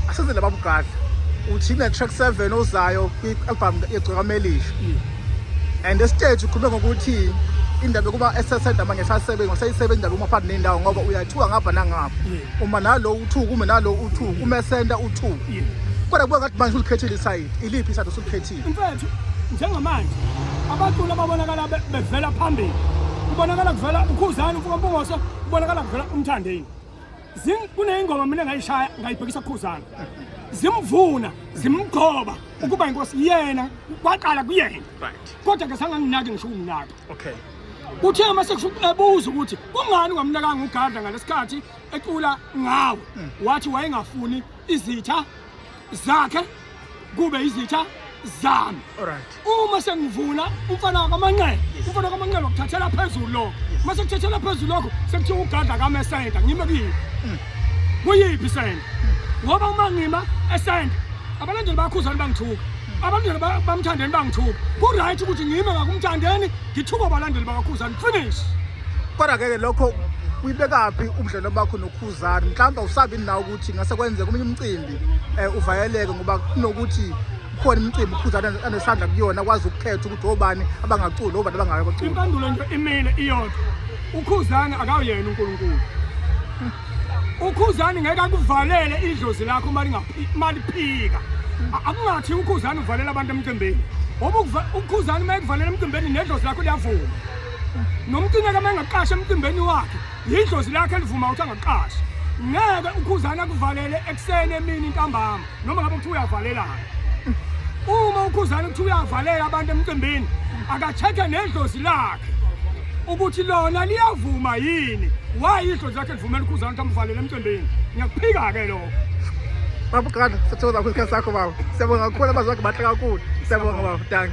asenzele baba ugadla uthi ne track 7 ozayo kwi album yegcweka melisha mm. and the stage ukhulume ngokuthi indaba yokuba esesenda manje sasebenza ngoseyisebenza indaba uma phakathi nendawo ngoba uyathuka ngapha nangapha uma nalo uthuka uma nalo uthuka uma esenda uthuka kodwa kuba ngathi manje ulikhethile isayidi iliphi isayidi osulikhethile mfethu njengamanje abaculi ababonakala bevela phambili kubonakala kuvela ukhuzane umfuka mpungose kubonakala kuvela umthandeni kuneyingoma mina ngayishaya ngayibhekisa kukhuzana zimvuna zimgqoba ukuba inkosi yena kwaqala kuyena kodwa ke sanganginaki ngisho ukunginaka okay kuthe uma sekubuza ukuthi kungani ungamnakanga ugadla ngalesikhathi ecula ngawo hmm. wathi wayengafuni izitha zakhe kube izitha zami uma sengivula umfana wakamanqele umfana wakamanqele wakuthathela phezulu lokho uma sekuthathela phezulu lokho sekuthiwa ugadla kami esenta ngime kuyiphi mm. kuyiphi isenta mm. ngoba uma ngima esenta abalandeli bakhuzani bangithuka mm. abalandeli bamthandeni bangithuka ku-right ukuthi ngime ngakumthandeni ngithuka abalandeli bakakhuzani finish kodwa-ke lokho uyibekaphi ubudlelwano bakho nokhuzani mhlawumbe awusabi nawo ukuthi ngase kwenzeka omunye umcimbi um uvayeleke ngoba kunokuthi khona imicimbi ukhuza anesandla kuyona akwazi ukukhetha ukuthi obani abangaculi obani abangayo abaculi impendulo nje imile iyodwa ukhuzani akawuyena unkulunkulu ukhuzani ngeke akuvalele idlozi lakho uma liphika akungathi ukhuzani uvalela abantu emcimbini ngoba ukhuzani uma ekuvalela emcimbini nedlozi lakho liyavuma nomcingeka uma engaqasha emcimbini wakhe yidlozi lakhe elivuma ukuthi angaqashi ngeke ukhuzana kuvalele ekuseni emini intambama noma ngabe kuthiwa uyavalelana uma ukhuzana ukuthi uyavalela abantu emcimbini akacheke nedlozi lakhe ukuthi lona liyavuma yini wayi idlozi lakhe livumela ukhuzana ukuthi amvalele emcimbini ngiyakuphika-ke lokho baba uqala sathokoza kakhulu isikhathi sakho baba siyabonga kakhulu abazwakhe bahle kakhulu siyabonga baba danki